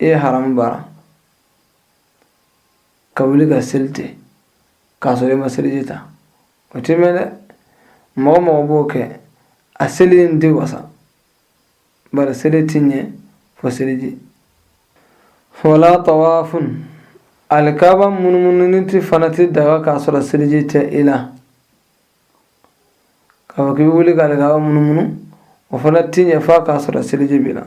ee haramu baara ka wuli ka seli kɛ k'a sɔrɔ i ma seliji ta o tɛ bɛn dɛ mɔgɔ o mɔgɔ b'o kɛ a seli in tɛ wasa bari seli tɛ ɲɛ fo seliji wala tawafun alikaba munumununi kɛ fana tɛ daga k'a sɔrɔ seliji tɛ i la k'a fɔ k'i bɛ wuli ka alikaba munumunu o fana tɛ ɲɛ f'a k'a sɔrɔ seliji b'i la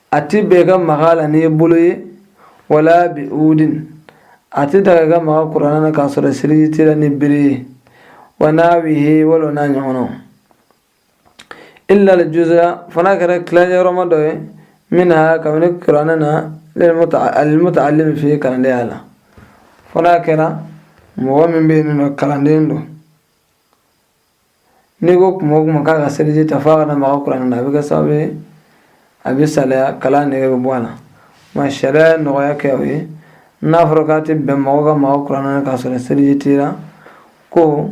a tɛ bɛn i ka maga a la n'i bolo ye wala bi udin a tɛ daga i ka maga kuranɛ na k'a sɔrɔ seliji t'i la ni bere ye wa nahwihi wala n'a ɲɔgɔnnaw illa al-juz'a fo n'a kɛra tilayɔrɔma dɔ ye minha kabini kuranɛ na lil-muta'allim fihi kalanden ye a la fo n'a kɛra mɔgɔ min bɛ yen n'o kalanden don N'i ko kuma o kuma k'a ka seliji ta f'a ka na maga kuranɛ na a bɛ kɛ sababu ye a bɛ salaya kalan nege bɛ bɔ a la nka sariya ye nɔgɔya kɛ o ye n'a fɔra k'a tɛ bɛn mɔgɔ ka maga kuranɛ na k'a sɔrɔ seliji t'i la ko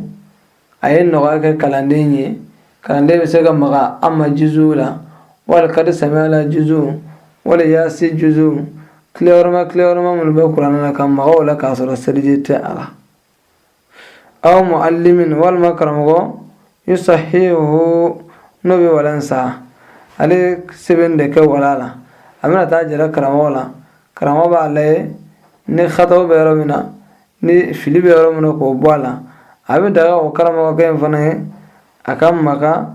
a ye nɔgɔya kɛ kalanden ye kalanden bɛ se ka maga amma juzu la wali kadi samiya la juzu wali yaasi juzu tilayɔrɔma tilayɔrɔma minnu bɛ kuranɛ na ka maga o la k'a sɔrɔ seliji tɛ a la aw muallimin walima karamɔgɔ yusahihu n'o bɛ walan saha ale sɛbɛn de kɛ wala la a bɛna taa a jira karamɔgɔ la karamɔgɔ b'a lajɛ ni xataw bɛ yɔrɔ min na ni fili bɛ yɔrɔ min na k'o bɔ a la a bɛ daga o karamɔgɔkɛ in fana ye a ka maga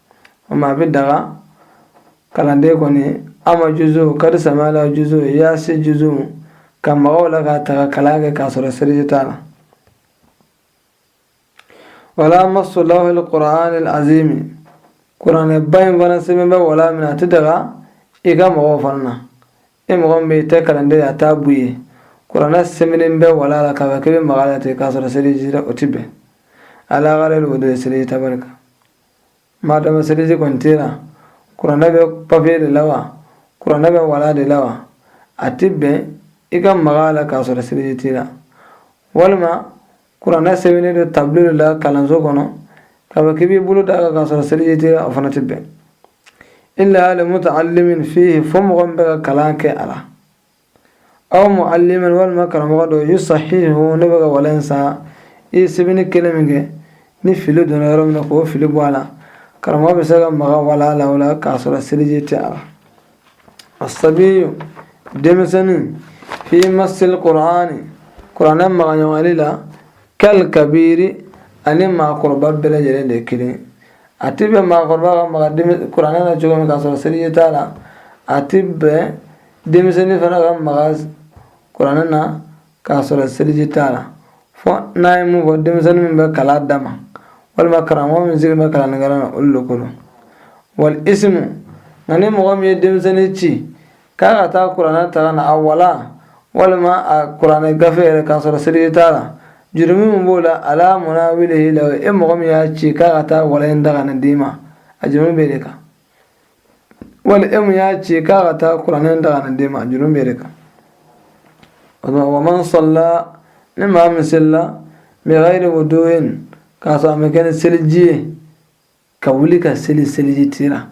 o ma a bɛ daga kalanden kɔni amma juzu kadi samiya la juzu yaasi juzu ka maga o la k'a ta ka kalan kɛ k'a sɔrɔ seliji t'a la wala masu lawhil qur'anil azimi kuranɛ ba in fana sɛbɛn bɛ wala min na a tɛ daga i ka maga o fana na e mɔgɔ min bɛ i tɛ kalanden ye a t'a bu ye kuranɛ sɛbɛnnen bɛ wala la k'a fɔ k'i bɛ maga a la ten k'a sɔrɔ seliji o tɛ bɛn ala gayri wuduyi seliji tabali kan ma dama seliji kɔni t'i la kuranɛ bɛ papier de la wa kuranɛ bɛ wala de la wa a tɛ bɛn i ka maga a la k'a sɔrɔ seliji t'i la walima kuranɛ sɛbɛnnen don tablo de la kalanso kɔnɔ k'a fɔ k'i b'i bolo d'a kan k'a sɔrɔ seliji t'i la o fana tɛ bɛn illa limutaallimin fihi fo mɔgɔ min bɛ ka kalan kɛ a la aw mualiman walima karamɔgɔ dɔ yusahihu n'a bɛ ka walan saha i ye sɛbɛnni kelen min kɛ ni fili donna yɔrɔ min na k'o fili bɔ a la karamɔgɔ bɛ se ka maga wala la o la k'a sɔrɔ seliji tɛ a la asabiyu denmisɛnnin fi masili kur'ani kuranɛ magaɲɔgɔnli la kal kabiri a ni maakɔrɔba bɛɛ lajɛlen de ye kelen a tɛ bɛn maakɔrɔba ka maga kuranɛ na cogo min k'a sɔrɔ seliji t'a la a tɛ bɛn denmisɛnnin fana ka maga kuranɛ na k'a sɔrɔ seliji t'a la fɔ n'a ye mun fɔ denmisɛnnin min bɛ kalan dama walima karamɔgɔ min sigilen bɛ kalannikɛla na olu de ko don wal isimu nka ni mɔgɔ min ye denmisɛnnin ci k'a ka taa kuranɛ ta ka na a wala walima a kuranɛ gafe yɛrɛ k'a sɔrɔ seliji t'a la jurumi min b'o la ala munawilihi lahu e mɔgɔ min y'a ci k'a ka taa wala in ta ka na d'i ma a jurumi b'e de kan wali e min y'a ci k'a ka taa kuranɛ ta ka na d'e ma jurumi bɛ e de kan o tuma wa man sala ni maa min selila bigayiri wuduyin k'a sɔrɔ a ma kɛ ni seliji ye ka wuli ka seli seliji t'i la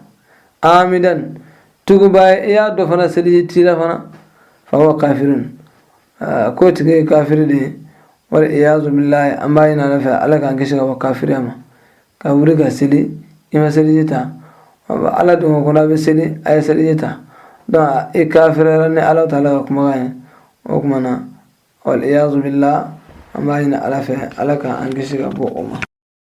amidan tuguba ye i y'a dɔn fana seliji t'i la fana fahuwa kafirun k'o tigi ye kafiri de ye wal iyazu bilayi an b'a ɲini ala fɛ ala k'an kisi ka bɔ kafiriya ma ka wuli ka seli i ma seliji ta ala dun ko n'a bɛ seli a ye seliji ta dɔn i kafirira ni ala taala ka kumakan ye o kuma na waliyazu billah an b'a ɲini ala fɛ ala ka an kisi ka bɔ o ma